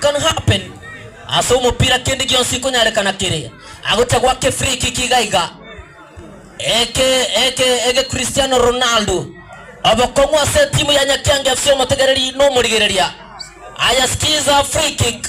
can happen ase omopira kende gionsi konyarekana kere agocha gwake free kick iga iga eke eke ege Cristiano Ronaldo obokong'u ase timu ya Nyakiange FC omotegereri nomorigereria aya skiza free kick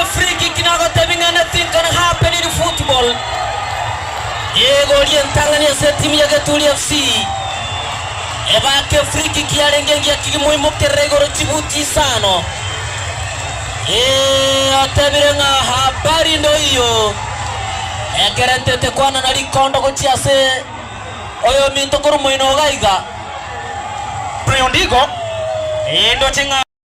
Efreekick nagotebi ng'a ne tinkana happened football. Egori entang'ani ase etimu ya Geturia FC. Ebake efreekick yarenge engiya ki gimoimokerera igoro chibuti isano. Ee, otebire ng'a habari ndoiyo. Ekero ntete kwanana rikondo gochia ase oyominto korwa moino oga iga. Brian Ndigo, ee, ndoche ng'a.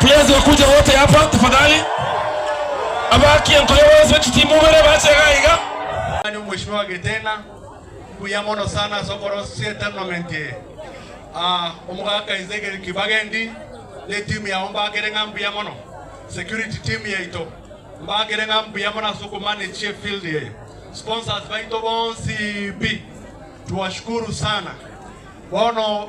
Please bakuje wote hapa tafadhali. Abaki enkoyo bonsi bechitimu ibere bache iga iga. Mani omweshimiwa Giteng'a, mbuya mono sana ase okorosia etournament eye. Ah, omogaka Ezekiel Kibagendi ne team yao mbakere ng'a mbuya mono. Security team yaito, mbakere ng'a mbuya mono ase oko manage efield eye. Sponsors baito bonsi pi, twashukuru sana. Bono.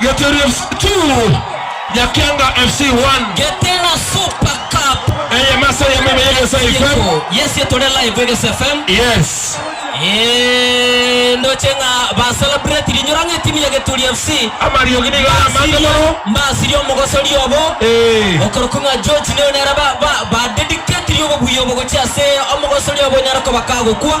Gĩtĩri FC 2, Nyakianga FC 1. Geteena Super Cup. Eye mase eyemo ime ya Egese FM. Yes ye tore live Egese FM. Yes. Eeh ndoche ng'a ba celebrate rinyora ng'a etimu ya Geturi FC. Amariogi nigo are amange mono. Mbasirie omogosori obo. Eeh. Okorokwa ng'a George nigo nere ba ba ba dedicate ria obobuya obo gochia ase omogosori obo onyare koba kagokwa.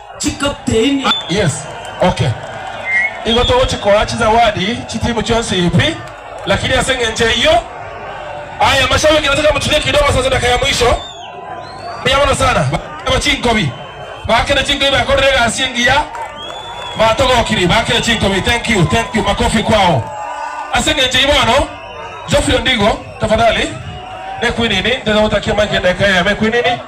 chikapteni. Ah yes okay igo togochikoa chizawadi chitimu chionsi pi lakini ase engencho eyio aya mashabiki nataka mutulie kidogo sasa dakika ya mwisho mbuya mono sana Ba- chinkobi bakire chinkobi bakorire egasi engiya batogokiri bakire chinkobi thank you thank you makofi kwao ase engencho eyio bono Geoffrey Ondigo tafadhali nekwinini ntete gotakia mike dakika ya mekwinini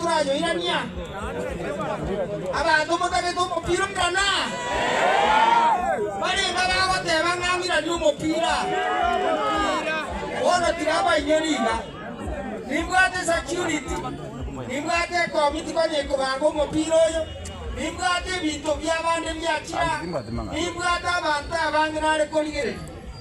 Torayoirania abanto motagete omopira omong'ana? Mbarenge abagoteba ng'a ng'iranie omopira. Bono tiga bainwe riga. Nimbwate security, nimbwate ekomiti konya ekobanga omopira oyo, nimbwate ebinto bi'abande biachire aa, nimbwate abanto abange nare korigereria.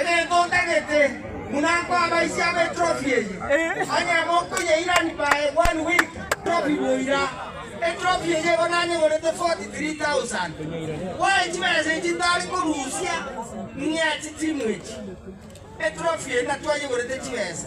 Egento ntagete buna nkwaba ise abe etrofi eye, onye mokoyeirani bae one week trofi boira. Etrofi eye igo nanyegorete 43,000. Boe chibesa echi ntari korusia ng'ea chitimu echi. Etrofi eye natwayegorete chibesa.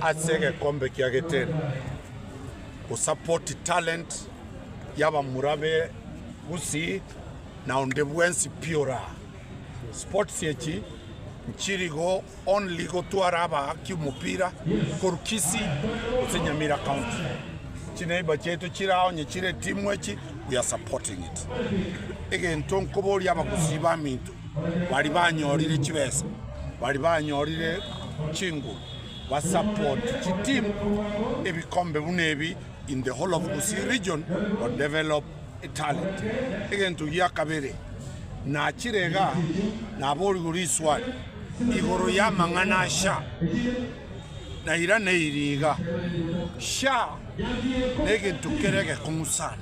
Ase egekombe kia Geterri, gosapoti talent y'abamura be Gusii na onde bwensi pi oraha. Sports echi nchirigo only gotwara abaaki omopira korwa Kisii gose Nyamira county. Chineighbor chiaito chire ao onye chire etimu echi we are supporting it. Egento nkoboria abagusii baminto. baria banyorire chibesa, baria banyorire chinguru ba support chiteam ebikombe buna ebi in the whole of Gusii region to develop talent. Egento gia kabere nachire igaa naborigwe riswali igoro ya amang'ana a SHA na irana eiri igaa, SHA negento kere egekong'u sana.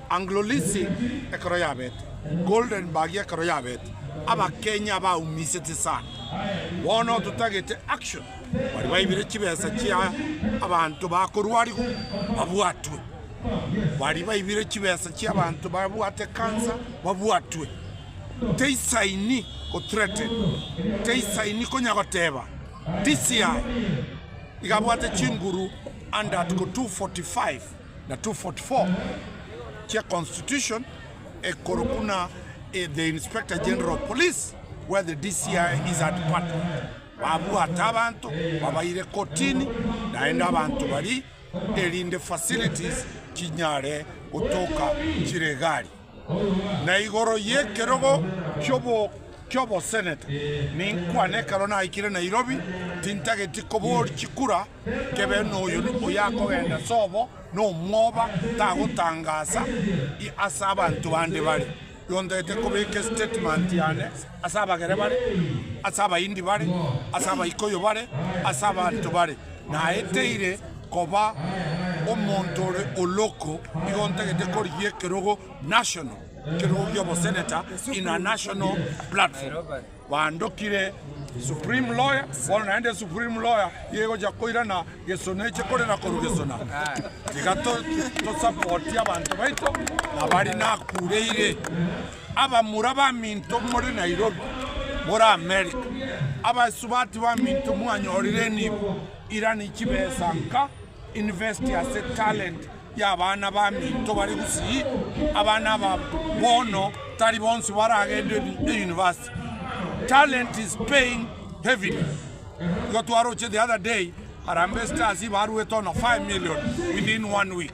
Anglo Leasing ekero yabete, Golden Bagi ekero yabete, Abakenya baumisetie sana. Bono totagete action baria baibire chibesa chia abanto bakorwarigwa babwatwe, baria baibire chibesa chia abanto babwate cancer babwatwe. Teisaini go threaten, teisaini konya goteba DCI iga abwate chinguru under article 245. na 244 chia Constitution ekoro buna e the Inspector General of Police where the DCI is a department, babwate abanto babaire kotini naende abanto baria erinde facilities chinyare gotoka chire egari. Na igoro y'ekerogo ki'oboseneta ninkwane ekero naikire Nairobi, tintageti kobooria chikura nkebe noyo oyakogenda sobo nomwoba tagotangasa ase abanto bande bare yontagete kobeka estatement yane ase abagere bare ase abaindi bare ase abaikoyo bare ase abanto bare. Naeteire koba omonto ore oloko igo ntagete korigia ekerogo National, ekerogo gia oboseneta in a national platform. Bandokire Supreme Lawyer, bono naende Supreme Lawyer nigo egochia koirana Gesuna eche korera korwa Gesuna. Tiga to support abanto baito abari nakureire. Abamura baminto more Nairobi, more Amerika, abaisubati baminto mwanyorire enibo, irani chibesa nka invest ase talent y'abana baminto bare gusii, abana aba bono tari bonsi baragende euniversity, talent is paying heavily, igo twaroche the other day Harambee Stars baruete ono 5 million within one week.